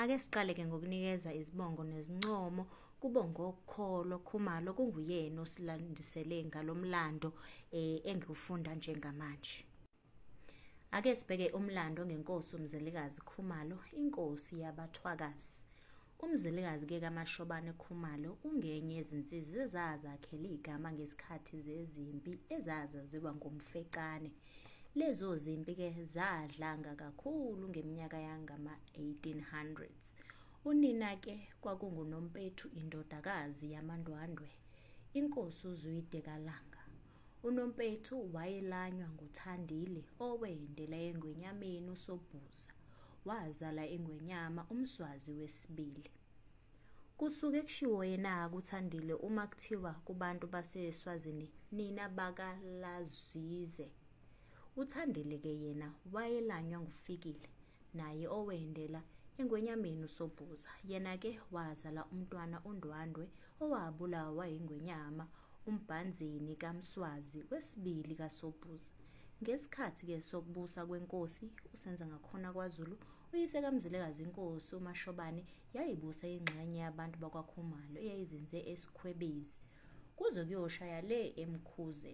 Ake siqaleke ngokunikeza izibongo nezincomo kubo ngokholo Khumalo kunguyena osilandisele ngalomlando eh, engiwufunda njengamanje. Ake sibheke umlando ngenkosi uMzelikazi Khumalo, inkosi yabathwakazi. Umzilikazi ke kaMashobane Khumalo ungenye yezinsizwa ezazakhele igama ngesikhathi zezimpi ezazaziwa ngomfecane. Lezo zimpi ke zadlanga kakhulu ngeminyaka yangama 1800s. Unina ke kwakunguNompethu indodakazi yamaNdwandwe, inkosi uZwide kaLanga. Unompethu wayelanywa nguThandile owendela engwenyameni uSobhuza, wazala ingwenyama uMswazi wesibili. Kusuke kushiwo yena-ke uThandile uma kuthiwa kubantu baseSwazini nina bakaLazize. UThandile-ke yena wayelanywa nguFikile naye owendela engwenyameni usobhuza yena-ke wazala umntwana undwandwe owabulawa yingwenyama umbhanzini kamswazi wesibili kasobhuza ngesikhathi-ke sokubusa kwenkosi usenza ngakhona kwazulu uyise kamzilekazi inkosi umashobane yayibusa ingxenye yabantu bakwakhumalo eyayizinze esikhwebezi kuze kuyoshaya le emkhuze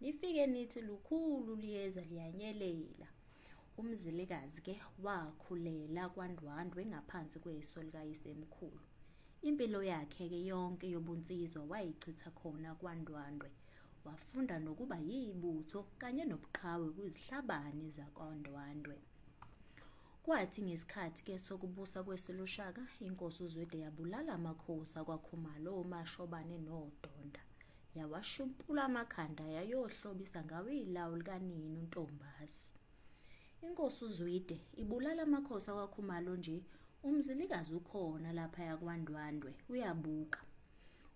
nifike nithi lukhulu liyeza liyanyelela umzilikazi ke wakhulela kwandwandwe ngaphansi kweso likayisemkhulu impilo yakhe ke yonke yobunsizwa wayichitha khona kwandwandwe wafunda nokuba yibutho kanye nobuqhawe kwizihlabani zakwandwandwe kwathi ngesikhathi ke sokubusa kweselushaka inkosi uzwede yabulala amakhosi akwakhumalo omashobane nodonda yawashumpula amakhanda yayohlobisa ngawo ilawu likanini untombazi inkosi uzwide ibulala amakhosi akwakhumalo nje umzilikazi ukhona lapha yakwandwandwe uyabuka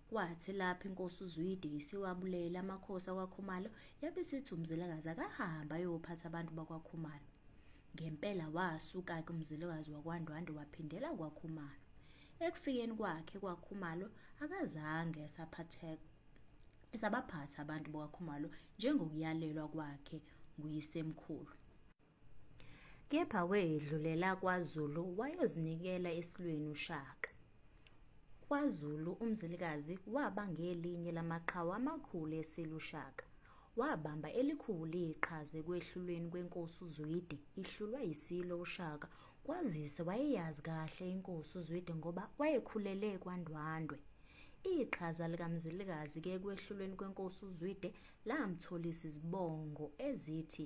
kwathi lapho inkosi uzwide isiwabulela amakhosi akwakhumalo yabe sithi umzilikazi akahamba ayophatha abantu bakwakhumalo Ngempela wasuka-ke umzilikazi wakwaNdwandwe waphindela kwaKhumalo. Ekufikeni kwakhe kwaKhumalo akazange esaphatheka esabaphatha abantu bakaKhumalo njengokuyalelwa kwakhe nguyisemkhulu. Kepha wedlulela kwaZulu wayozinikela esilweni uShaka. KwaZulu umzilikazi waba ngelinye lamaqhawe amakhulu eSilo uShaka. wabamba elikhulu iqhaza ekwehlulweni kwenkosi uZwide ihlulwa yiSilo uShaka kwazise wayeyazi kahle inkosi uZwide ngoba wayekhulele kwaNdwandwe iqhaza likaMzilikazi ke ekwehlulweni kwenkosi uZwide lamtholisa izibongo ezithi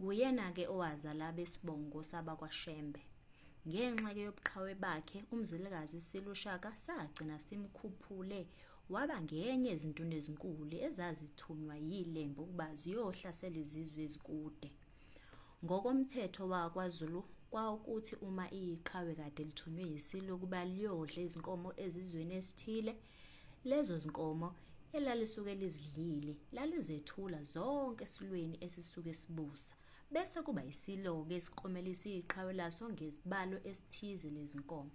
Nguyena-ke owazala abesibongo sabakwaShembe. Ngenxa-ke yobuqhawe bakhe, uMzilikazi isilushaka sagcina simkhuphule waba ngenye ezintuni ezinkulu ezazithunywa yilembe ukuba ziyohlasela izizwe ezikude. Ngokomthetho wakwaZulu kwawukuthi uma iqhawe kade lithunywe yiSilo ukuba liyodla izinkomo ezizweni esithile, Lezo zinkomo elalisuke lizidlile lalizethula zonke esilweni esisuke sibusa bese kuba isiloke esiqomelisa iqhawe laso ngezibalo esithize lezinkomo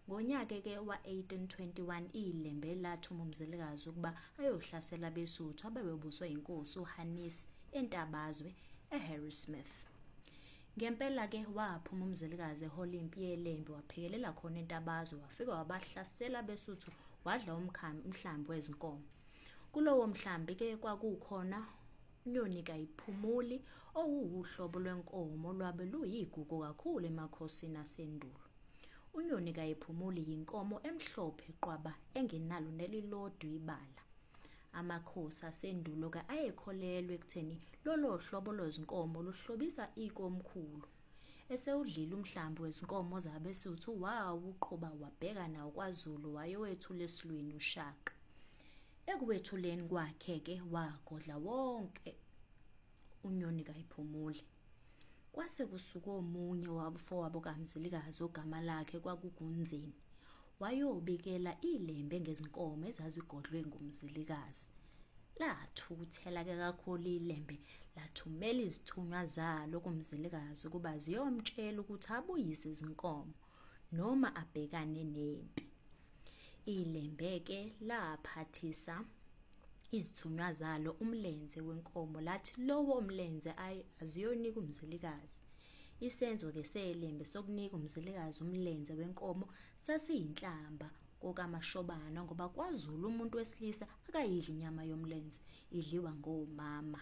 ngonyaka ke wa-1821 ilembe lathuma umzelikazi ukuba ayohlasela abesuthu abebebuswa inkosi uhanisi entabazwe eharrismith Ngempela ke waphuma umzelikazi ehola impi yelembe waphekelela khona entabazo wafika wabahlasela besuthu wadla umkhambi umhlambi wezinkomo. Kulowo mhlambi ke kwakukhona unyoni kayiphumuli owuhlobo lwenkomo lwabe luyigugu kakhulu emakhosini asendulo. Unyoni kayiphumuli yinkomo emhlophe qwaba engenalo nelilodwa ibala. Amakhosi asendulo-ke ayekholelwa ekutheni lolo hlobo lwezinkomo luhlobisa ikomkhulu. Esewudlile umhlambi wezinkomo zabeSuthu wawuqhuba wabheka nawo kwaZulu wayowethula esilweni uShaka. Ekuwethuleni kwakhe-ke wagodla wonke unyoni kayiphumuli. Kwase kusuka omunye wabufowabo kaMzilikazi ogama lakhe kwakukunzini. Wayobikela ilembe ngezinkomo ezazigodlwe nguMzilikazi. Lathukuthela ke kakhulu ilembe lathumela izithunywa zalo kuMzilikazi ukuba ziyomtshela ukuthi abuyise izinkomo. noma abhekane nempi. Ilembeke laphathisa izithunywa zalo umlenze wenkomo lathi lowo mlenze ayi aziyonika umzilikazi. Isenzo-ke selembe sokunika umzilikazi umlenze wenkomo sasiyinhlamba kokamashobana ngoba kwazulu umuntu wesilisa akayidli inyama yomlenze idliwa ngomama